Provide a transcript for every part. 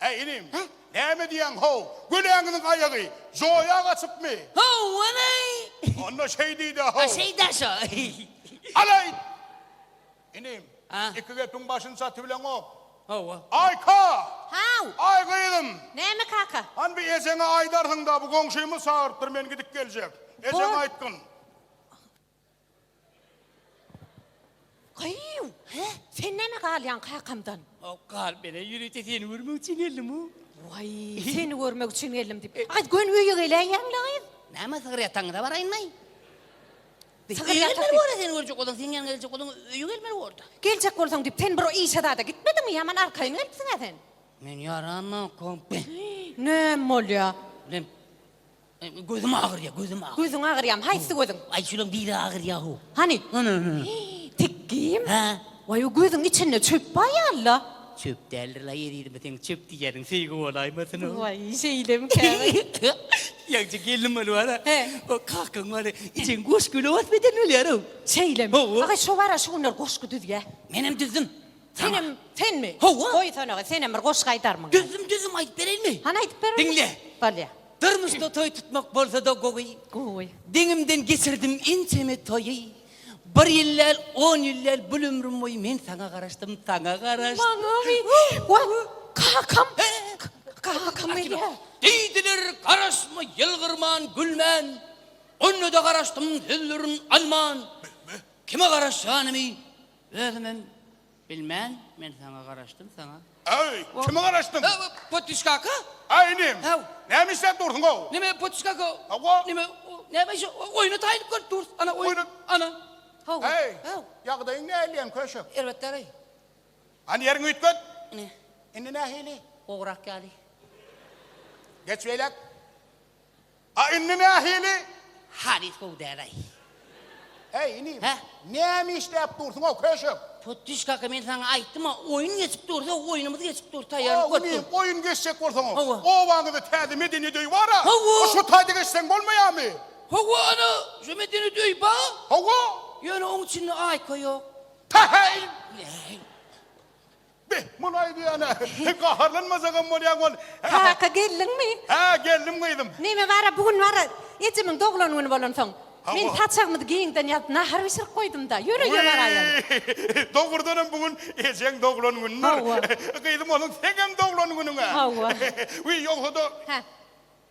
Äý, inim, näme diýýäň, how, göläňiziň aýagy joýa gaçypmy? Ho-o-oy! Onda şeý diý-dä, how. Şeý-dä şo. Alaýt! Inim, iki gepiň başyny çatybileňok. Hawa. Aýka! How! Aý, gyzym! Näme, kaka? Hany bir ejeňe aýdarsyň-da, bu goňşymy çagyrypdyr, men gidip geljek. Ejeňe aýtgyn. Gyýw! Hä? Sen näme galýaň kakamdan? Hok, gal, men-ä ýörite seni görmek üçin geldim-ow. Waý, seni görmek üçin geldim diýip. Aýt, göni öýe geläýýäň-le, gyz? Näme, sygyr ýatanyňyza baraýynmy? Sygyr Öýe ýatak gelmeli diýip- bor-a, seni görjek bolan, seň ýanyňa geljek bolan öýe gelmeli bor-da. Geljek bolsaň diýip, sen bir işe zada gitmediňmi? Ýaman arkaýyn gelipsiň-ä sen. Men ýaranok, kompe. Näme bolýa? Bilemok. Gözüm agyrýa, gözüm agyrýa. Gözüň agyrýamy? Haýsy gözüň? Aý, şulaň biri agyrýa-how. Hany? Ana, ana. Tekgim? Hä? Waý, o gözüň içinde çöp bar ýaly-la. Çöp däldir-la, ýerýerime seň çöp diýýäniň söýgi bolaýmasyn-ow. Waý, şeýlemikä? Ýaňja gelnim bolup wara. He. O kakaň wara, ijen goşgy löwes beden bolýar-ow. Şeýlemi? Hawa. Aga, şo wara, şu günler goşgy düzýä. Menem düzdüm. Senem, senmi? Hawa. Goýsana, aga, senem bir goşgy aýdarmyň? Düzdüm, düzdüm, aýdyp bereýinmi? Hany, aýdyp ber onda. Diňle. Bolýa. Durmuşda toý tutmak bolsa-da gowy. Gowy. Deňimden geçirdim ençeme toýy. Bir ýyl däl, on ýyl däl, bul ömrüm boýy men saňa garaşdym, saňa garaşdym. Maňaby. Wah, kakam. Kakam gelýär. Diýdiler, garaşma, ýylgyrman, gülmän. Onda-da garaşdym sözlerin alman. Kime garaşýanymy özümem. Bilmen, men saňa garaşdym, saňa. Aý, kime garaşdyň? Haw, Potiş kaka? Aý, inim. Haw. Näme işläp dursuň, how? Näme, Potiş kaka? Hawa. Näme, näme şu oýna taýynyp görüp durus, ana oýun, ana. Haw, Aý, haw. ýagdaýyň näleýem, köşek? Erbetdäraý. Hany ýeriňi üýtget. Ine. Indi nähili? Gowrak ýaly. Geç beýläk. A indi nähili? Halys gowy däl-aý. Äý, inim. Hä? Näme işläp dursuň-ow, köşek? Putyşkaka, men saňa aýtdym-a, oýun geçip dursa, oýnumyz geçip dur, taýýarlyk görüp dur. A, inim, oýun geçjek bolsaň-ow. Hawa. Obaňyzda täze medeniýet öýi bar-a. Hawa. A şo taýda geçseň bolmaýarmy? Hawa, ana, şo medeniýet öýi bar. Hawa. Ýöne oň içinde aýka ýok. Päheý! Äý. Be, muny aýdýan-a. Sen gaharlanmasaňam bolýaň ol. Kaka, geldiňmi? Hä, geldim gyzym. Näme bar-a, bu gün bar-a, ejemiň doglan güni bolansoň, men saçagymyzy giňden ýazyp, nahar bişirip goýdum-da. Ýör, öýe baraýaly. Wiý! Dogrudanam bu gün ejeň doglan günüdir. Hawa. Gyzym, onuň seňem doglan günüň-ä. Hawa. Wiý, ýogsa-da. Hä.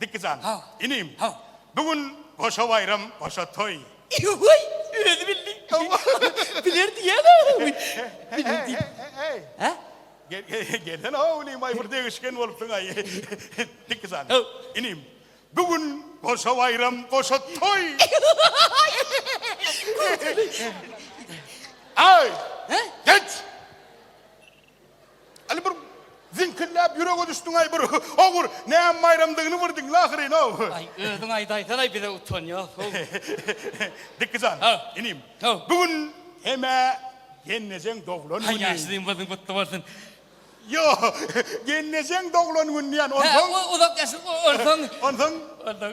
Diki jan. Haw. Inim. Haw. Bu gün goşa baýram, goşa toý. Ýa-ýa-ýa. Özi bildi. Biler diýýäň-ä. Biler diýip. He-he-he-he-he-he. Hä? Gel-gel-gelsene-ow, inim-aý, bir degişgen bolupsyň-aý. Diki jan. Haw. Inim, bu gün goşa baýram, goşa toý. Ýa-ýa-ýa. Aý! He? Geç! Aly bir ziňkilläp ýürege düşdüňaý bir ogur näme baýramdygyny bir diňle ahyryn-ow. Aý özüň aýdaýsanaý bize utan ýok-ow. Dikki jan. Haw. Inim. Haw. Bu gün hem-ä gelnejeň doglan güni. Haý ýaşulyň badyň gutly bolsun. Ýo, gelnejeň doglan güni diýýän, onsoň. Hä, uzak ýaşa, onsoň. Onsoň. Onsoň.